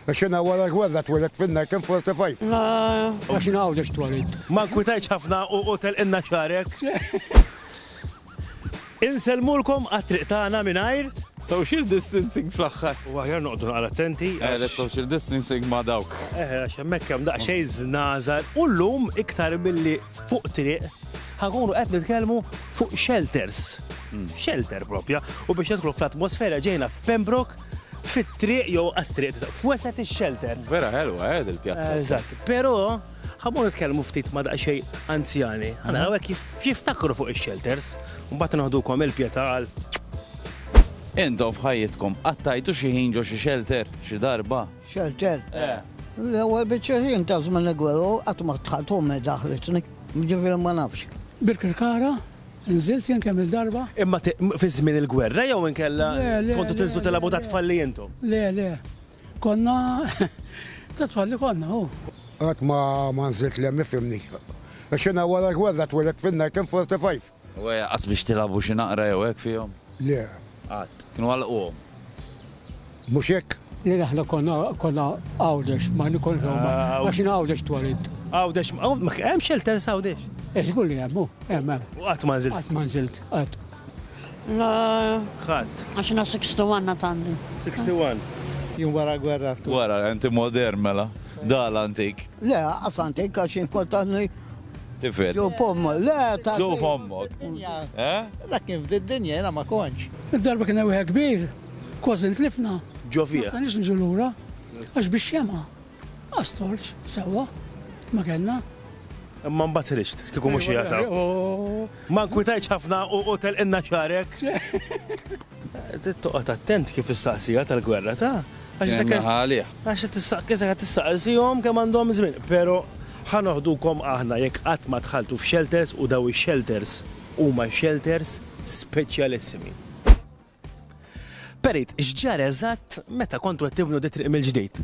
Is-sena wara l-gwerra twelidt fin-1945. Ma nafx jien hawn għax twelidt. Ma nkwitajtx ħafna u telqilna xagħrek. Insellmulkom għat-triq tagħna mingħajr. Social distancing fl-aħħar. Huwa aħjar noqogħdu naqra attenti għax. Eħe, social distancing ma' dawk. Eħe, għax hemmhekk hemm daqsxejn żnażar u llum iktar milli fuq triq ħa nkunu qed nitkellmu fuq shelters. Shelter proprja. U biex nidħlu fl-atmosfera ġejna f'Pembroke Fit-triq jew għas-triq, f'wesgħet ix-xelter. Vera ħelwa, eh, il-pjazza. Eżatt, però ħammur nitkellmu ftit ma' daqsxej anzjani. Għana għawek jiftakru fuq ix-xelters, u mbagħad noħdukom il-pjeta għal. Intom f'ħajjitkom qattajtu xi ħin ġo xi xelter, xi darba? Xelter? Eh. L-ewwel biċċa ħin ta' żmien gweru qatt ma tħaltu me daħlitni. Ġifieri ma nafx. Birkirkara, Inżilt jien kemm-il darba. Imma fi żmien il-gwerra jew inkella kontu tinżlu tilgħabu ta' tfalli intom? Le, le. Konna ta' tfalli konna, hu. Qatt ma nżilt l-hemm ifhimni. Għax jiena wara l-gwerra twelidt fin-1945. U qatt biex tilgħabu xi naqra jew hekk fihom? Le, qatt. Kienu għalquhom. Mhux hekk? Lil aħna konna konna Għawdex, ma nkunx Roma, għax jien Għawdex twelidt. Għawdex, hemm shelters Għawdex? Eh żgur li hemm, hu, hemm, hemm. U qatt ma nżilt? Qatt ma nżilt, qatt. Le. Qatt. Għax jiena 61 għad għandi. 61? Jien wara l-gwerra ftuħt. Wara, inti modern mela. Dahl antik. Le, anqas antik għax jien kont għadni. Tifel. Ġo pommok, le ta' Ġo pommok. Eh? Dak kien f'did dinja jena ma konċ. Il-darba kien ewħe kbir, kważi ntlifna. Ġo fija. Ma nix nġu lura, għax biex xema. Astorċ, sewa, ma kellna. Imma mbagħad ħriġt, kieku mhux jagħtaw. Ma nkwitajtx ħafna u telqinna xarek. Trid toqgħod attent kif issaqsiha tal-gwerra ta'. Għax għalih. Għax isekat tissaqsihom kemm għandhom żmien. Pero ħa noħdukom aħna jekk qatt ma dħaltu f'shelters u daw ix-shelters huma shelters speċjalissimi. Perit, x'ġara eżatt meta kontu qed tibnu di triq mill-ġdid?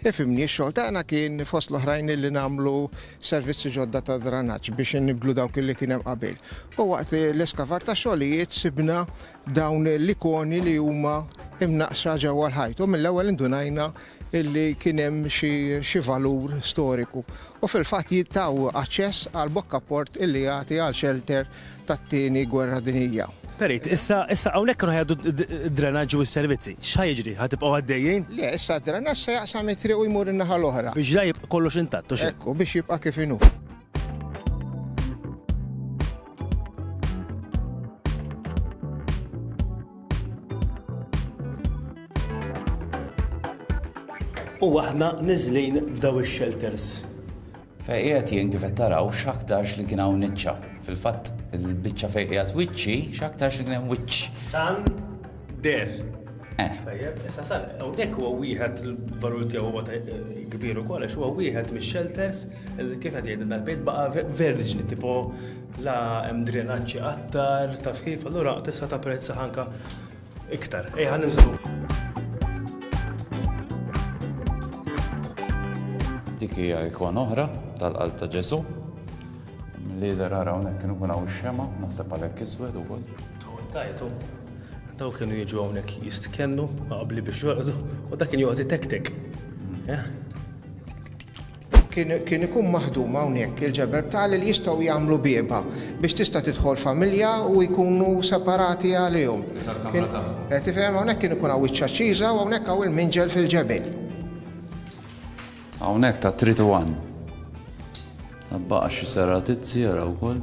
Ifhimni, x-xogħol tagħna kien fost l-oħrajn li nagħmlu servizzi ġodda ta' dranaġġ biex innibblu dawk li kien hemm qabel. U waqt l-eskavar ta' xogħlijiet sibna dawn l-ikoni li huma imnaqxa ġewwa l-ħajt u mill-ewwel indunajna illi kien hemm xi valur storiku. U fil-fatt jittaw aċċess għal bokka port illi jagħti għal xelter tat-Tieni Gwerra Dinjija. Perit, issa, issa hawnhekk kienu ħajgħaddu d-drenaġġ u s-servizzi. X'ħa jiġri? Ħa tibqgħu għaddejjin? Le, issa d-drenaġġ se jaqsam it-triq u jmur in-naħa l-oħra. Biex la jibqa' kollox intatt u xi. Ekku, biex jibqa' kif inhu. U aħna niżlin f'daw ix-shelters. Fejn qiegħed jien kif qed taraw x'aktarx li kien hawn niċċa. Fil-fatt il-biċċa fejn qiegħed wiċċi x'aktarx li kien hemm wiċċ. San der. Eh. Tajjeb, issa san, hawnhekk huwa wieħed il-valur tiegħu huwa eh, kbir ukoll għax huwa wieħed mix-shelters kif qed jgħidilna l-bejt baqa' verġni tipo la hemm drenaġġi qattar taf kif allura tista' tapprezza ħanka Iktar, ejja ninżlu. Dik hija ikon oħra tal-qalb ta' Ġesu. Li der ara hawnhekk kienu kun hawn xema, naħseb għalhekk iswed ukoll. Tajtu. Daw kienu jiġu hawnhekk jistkennu qabli biex joqgħdu u dak kien joqgħod itektek. Hmm. Eh? Kien ikun maħdum hawnhekk il-ġebel b'tali li jistgħu jagħmlu bieba biex tista' tidħol familja u jkunu separati għalihom. Eh, tifhem hawnhekk kien ikun hawn wiċċa ċiża u hawnhekk hawn il-minġel fil-ġebel. Hawnhekk ta' trid u għan. Baqa xi seratizzi jaraw wkoll.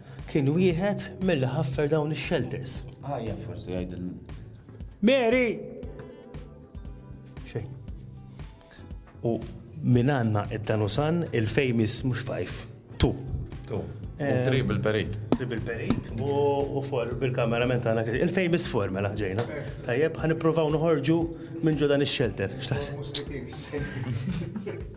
Kien wieħed milli ħaffer dawn ix-xelters. Għajjat forsi jgħid il. Mary! Xejn. U minn għandna id-danusan il-famous mhux fajf. Tu. Tu. Eh, Trib il-perit. Trib il-perit u for bil-kameraman tagħna il-famous for mela ġejna. Tajjeb, ħan nippruvaw noħorġu minn ġo dan ix-shelter. X'taħseb?